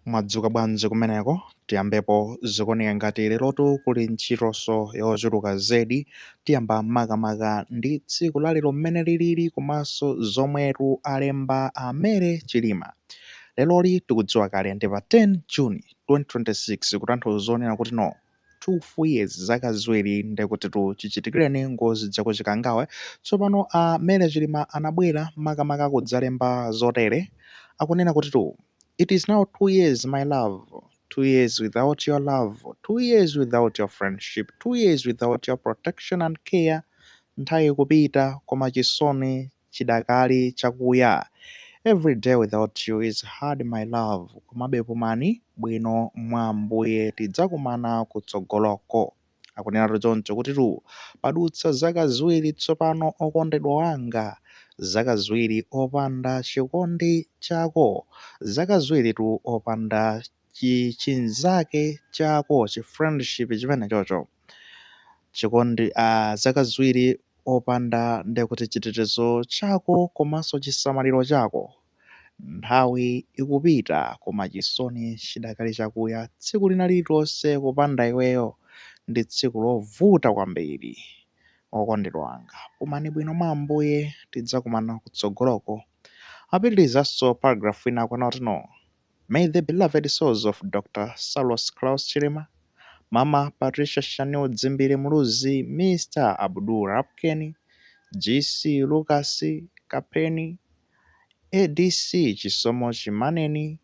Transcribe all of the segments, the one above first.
Mwadzuka bwanji kumeneko? Tiyambepo, zikuoneka ngati lerotu kuli ntchitonso yochuluka zedi. Tiyamba makamaka ndi tsiku la lero mmene lilili komanso zomwetu alemba a Mary Chilima. Leroli tikudziwa kale ndi pa 10 June 2026 kutanthauza zonena kuti no. 2 full years zaka ziwiri ndekutitu chichitikireni ngozi ija ku Chikangawa tsopano a mary chilima anabwera makamaka kudzalemba zotere akunena kutitu it is now 2 years my love 2 years without your love 2 years without your friendship 2 years without your protection and care nthawi ikupita koma chisoni chidakali chakuya everyday without you is hard my love komabe pumani bwino mwa Ambuye tidzakumana kutsogoloko. Akunenatu choncho kutitu padutsa zaka ziwiri tsopano okondedwa wanga, zaka ziwiri opanda chikondi chako, zaka ziwiritu opanda. chi chinzake chako chi friendship chimenecho cho chikondi a zaka ziwiri opanda ndekuti chitetezo chako komanso chisamaliro chako nthawi ikupita koma chisoni chidakali chakuya tsiku lina lililonse kupanda iweyo ndi tsiku lovuta kwambiri okondedwa wanga pumani bwino mwa ambuye tidzakumana kutsogoloko apitirizanso paragraph ina akunena kuti no May the beloved souls of Dr Saulos Klaus Chilima, Mama Patricia Shanil Dzimbiri Muluzi, Mr Abdul Rapkeni, GC Lukas Kapeni, ADC Chisomo Chimaneni,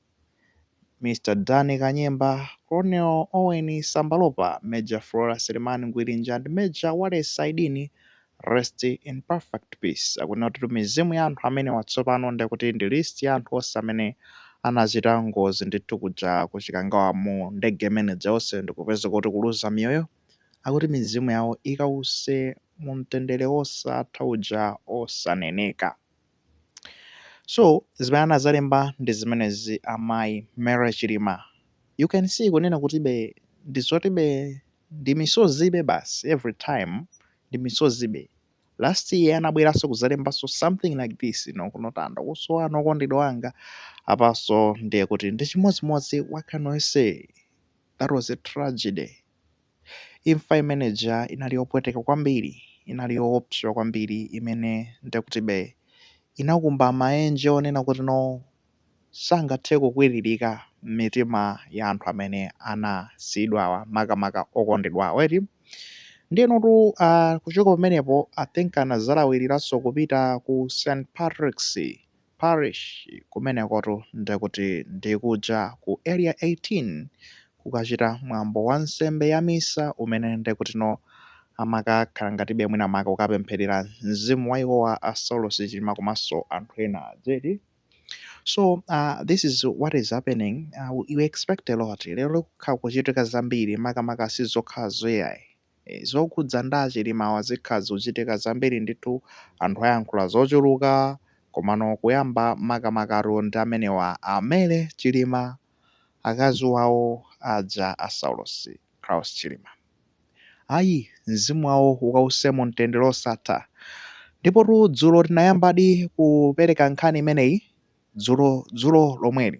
Mr Danny Kanyemba, Colonel Owen Sambalopa, Major Flora Selemani Ngwirinja and Major Wallace Saidini Rest in perfect peace akunena kuti mizimu ya anthu amenewa tsopano ndekuti ndi list ya anthu onse amene anachita ngozi ndithu kuja ku Chikangawa mu ndege imene ija onse ndikupezeka kuti kuluza miyoyo akuti mizimu yawo ikause mu mtendere wosatha uja osaneneka. So zimene anazalemba ndi zimenezi amayi Mary Chilima. You can see kunena kutibe ndizotibe ndi misozibe basi every time ndi misozibe. Last year anabweranso kuzalembanso something like this no kunotanda kuwasowa okondedwa wanga apanso ndiye kuti ndi chimodzimodzi what can I say that was a tragedy. Imfa imene ija inali yopweteka kwambiri, inali yoopsa kwambiri imene ndekutibe inakumba maenje onena kuti no sangathe kukwiririka m'mitima ya anthu amene anasiyidwawa makamaka okondedwa awo eti ndiyenotu uh, kuchoka pamenepo i think anazalawiriranso kupita ku st patrick's Parish kumenekotu ndekuti ndikuja ku Area 18 kukachita mwambo wa nsembe ya Misa umene ndekutino amakakhala ngatibe mwina mwake kukapempherera mzimu wa iwowa a Saulos Chilima komanso anthu ena zedi so this is what is happening we expect a lot lero kukhala kukuchitika zambiri makamaka sizokhazo ai. Eeh zokhudza ndi a Chilimawa zikhala zikuchitika zambiri ndithu anthu ayankhula zochuluka komano kuyamba makamakatu ndi amenewa a Mary Chilima akazi wawo aja a Saulosi Klaus Chilima ayi mzimu wawo ukause mu mtendere osatha ndipotu dzulo tinayambadi kupereka nkhani imeneyi dzulo dzulo lomweli.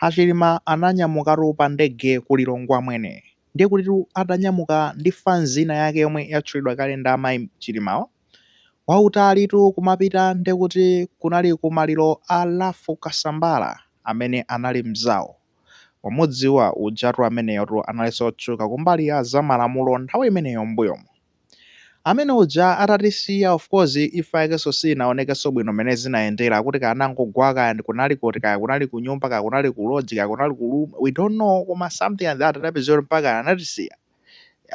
A Chilima ananyamukatu pa ndege ku Lilongwe amwene. Ndiye kutitu atanyamuka ndi fanzi ina yake yomwe yatchulidwa kale ndi amayi Chilimawa, wautalitu kumapita ndiye kuti kunali ku maliro a Ralph Kasambara amene anali mzawo. Mwamudziwa ujatu ameneyotu analinso otchuka kumbali ya za malamulo nthawi imeneyo m'mbuyomo. Amene uja atatisiya of course imfa yakenso sinaonekenso bwino mmene zinayendera kuti kaya anangogwa kaya ndi kunali kuti kaya kunali kunyumba kaya kunali ku lodge kaya kunali ku room we don't know koma something like that anapezeka kuti mpaka anatisiya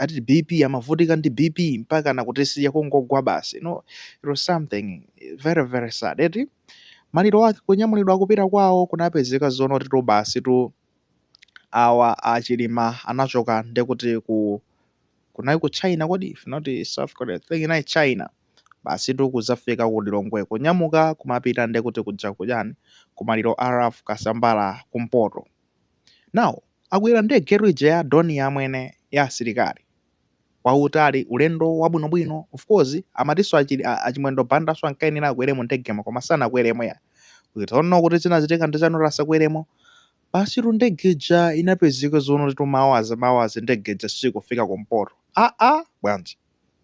ati bp amavutika ndi bp mpaka nakutisiya kungogwa basi you know it was something very very sad eti maliro ake kunyamulidwa kupita kwawo kunapezeka zonoti tu basi tu awa a Chilima anachoka ndekuti ku kunali ku China kodi if not South Korea, I think inali China, basitu kudzafika ku Lilongwe kunyamuka kumapita nde kuti kujakujani kumaliro a Ralph Kasambara kumpoto. Now akwera ndegetu ija ya Dornier amwene ya asilikali, wautali ulendo wabwinobwino, of course amatinso achi a a Chimwendo Bandanso ankayenera akwere mu ndegemo koma sanakweremo ya we don't know kuti chinachitika ndi chani kuti asakweremo Basitu ndege ija inapezeka zonoti tu maawazi maawazi ndege ija sikufika kumpoto. Aa bwanji?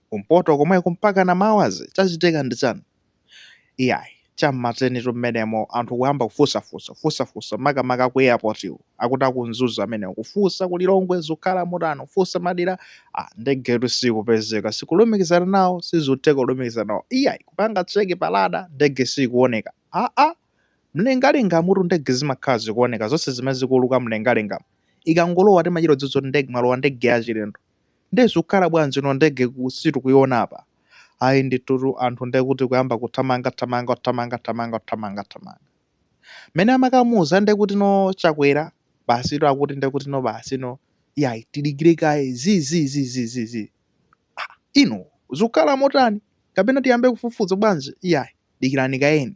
Kumpoto komweko mpakana maawazi? Chachitika ndi chani? Iyayi, cha m'ma 10 tu mmenemo anthu kuyamba kufunsafunsa, kufunsafunsa makamaka aku airport-wo akuti aku Mzuzu amenewo kufunsa ku Lilongwe zukhala motani kufunsa madera ah ndegetu sikupezeka sikulumikizana nawo sizikutheka kulumikizana nawo iyayi kupanga check pa radar ndege sikuoneka. Aa! Mlengalengamutu ndege zimakhala zikuoneka zonse zimene zikuuluka mlengalengamu. Ikangolowa timachita kudziwa zoti ndege mwalowa ndege yachilendo. Ndiye zikukhala bwanji no ndege sitikuiona apa? Ayi ndithutu anthu ndiye kuti kuyamba kuthamanga thamanga kuthamanga thamanga kuthamanga thamanga. Mmene amakamuuza ndiye kuti no Chakwera basitu akuti ndiye kuti no basi no iyayi tidikire kaye zi zi zi zi zi zi. Ah, inu zikukhala motani? Kapena tiyambe kufufuza bwanji? Iyayi dikirani kayeni.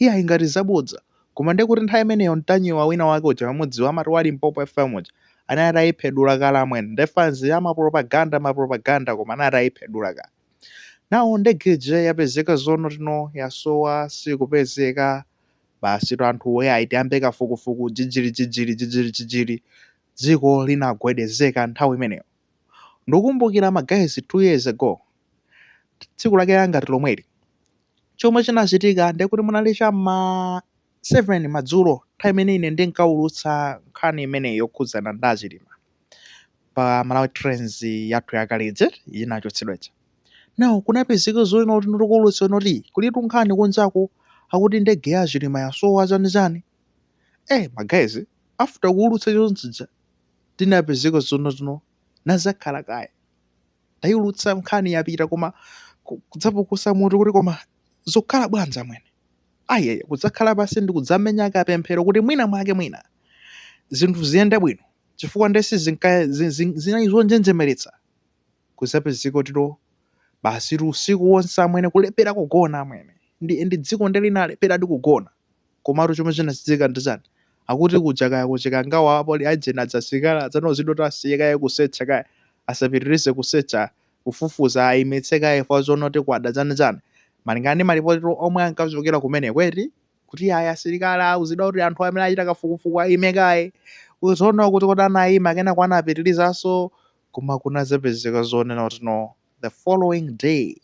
Iyayi ngati zabodza. Koma ndiye kuti nthawi imeneyo mtanyiwa wina wake uja mamudziwa amati wa Limpopo FM uja anali atayiphedula kale amwene. Nde fans amapropaganda mapropaganda koma anali atayiphedula kale. Now ndege ija yapezeka zono tino yasowa sikupezeka. Basitu anthuwo iyayi tiyambe kafukufuku jijili jijili jijili jijili. Dziko linagwedezeka nthawi imeneyo. Ndukumbukira ma guys two years ago tsiku lake langati lomweli chomwe chinachitika ndiye kuti munali cha ma 7 madzulo nthawi imene ine ndinkaulutsa nkhani imeneyi yokhudzana ndi achilima pa malawi trends yathu yakale ija inachotsedwa ija now kunapezeka zoona kuti ndikuulutsa inoti kulitu nkhani kunjaku akuti ndege ya achilima yasowa chani chani eh ma guys after kuulutsa chonchija tinapezeka zono tinadzakhala kaye Tayulutsa nkhani yapita koma kudzapukusa mutu kuti koma zokhala bwanji amwene. Ayaya kudzakhala pansi ndi kudzamenya kapemphero kuti mwina mwake mwina zinthu ziyende bwino chifukwa nde sizinka- zi- zi- zinali zonjenjemeretsa kudzapezeka kuti no basitu usiku wonse amwene kulephera kugona amwene ndi, ndi dziko nde linalepheradi kugona. Komatu chomwe chinachitika ndi chani? Akuti kuja kaya ku Chikangawa apolisi ajeni aja asilikali aja anauzidwa kuti asiye kaye kusecha kaye, asapitirize kusecha, kufufuza ayimitse kaye chifukwa choona kuti kwada chani chani. Malingana ndi malipoti omwe ankachokera kumeneko eti, kuti ayi asilikali auzidwa kuti anthu amene akuchita kafukufuku ayime kaye. Zoona kuti kodi anayima kenako anapitirizanso koma kunadzapezeka zonena kuti no. the following day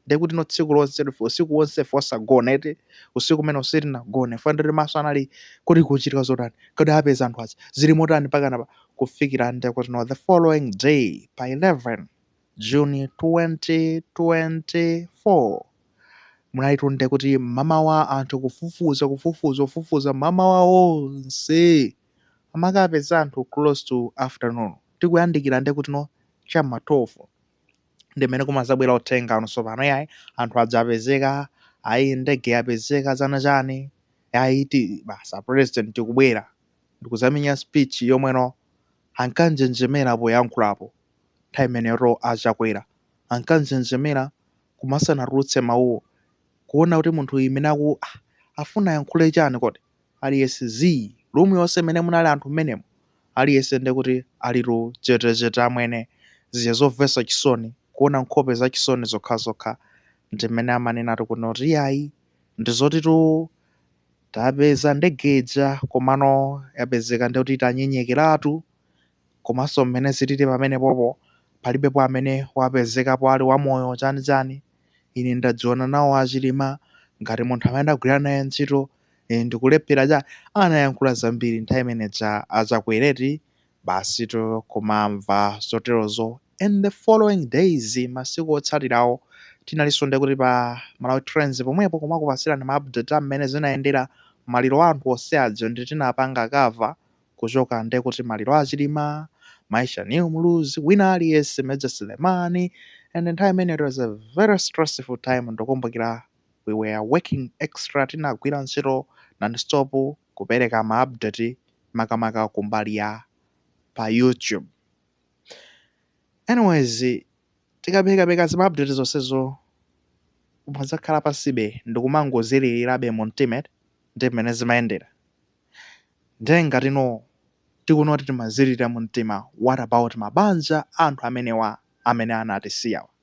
ndiye kuti no tsiku lonse usiku wonse ife osagona eti usiku umene uja sitinagone funa ndiri maso anali kodi kuchitika zotani kodi apeza anthu aja zili motani pakana pa kufikira ndiye kuti no the following day pa 11 june 2024 munalitu ndiye kuti mmamawa anthu kufufuza kufufuza kufufuza mmamawa wonse amakapeza anthu close to afternoon tikuyandikira nde kuti no cha m'ma 12 ndi mmene kumadzabwera uthenga no tsopano yayi anthu aja apezeka ayi ndege yapezeka chani chani yayi basi a president tikubwera ndikudzamenya speech yomwe no ankanjenjemera poyankhulapo nthawi imeneyo a Chakwera ankanjenjemera koma asanatulutse mawuwo kuona kuti munthu uyu mmene aku ah, afuna ayankhule chani kodi aliyese zii room yose imene munali anthu mmenemo aliyese ndekuti alitu chetechete amwene zija zovesa chisoni kuona nkhope zachisoni zokhazokha ndimene amanenatu kunoti iyayi ndizotitu tapeza ndege ija komano yapezeka ndekuti itanyenyekeratu komaso mmene zilili pamenepopo palibepo amene wapezekapo ali wamoyo chani chani ine ndadziwana nawo a Chilima ngati munthu amene ndagwira naye ntchito Eee ndikulephera cha anayankhula zambiri nthawi imeneja a Chakwera eti basitu kumamva zoterozo and the following days masiku otsatirawo tinalinso nde kuti pa Malawi Trends pomwepo kumakupasirani ma update a mmene zinayendera maliro a anthu onse aja nde tinapanga cover kuchoka nde kuti maliro a Chilima, Mai Shanil Muluzi wina aliyense Major Selemani and nthawi imeneyo it was a very stressful time ndukumbukira we were working extra tinagwira ntchito non stop kupereka ma update makamaka kumbali ya pa YouTube anyways tikapekapeka zima update zonsezo umadzakhala pansibe ndikumangozililirabe mu mtima ndi mmene zimayendera ndiye ngati ino tikunoti timazilira mu mtima what about mabanja a anthu amenewa amene anatisiyawa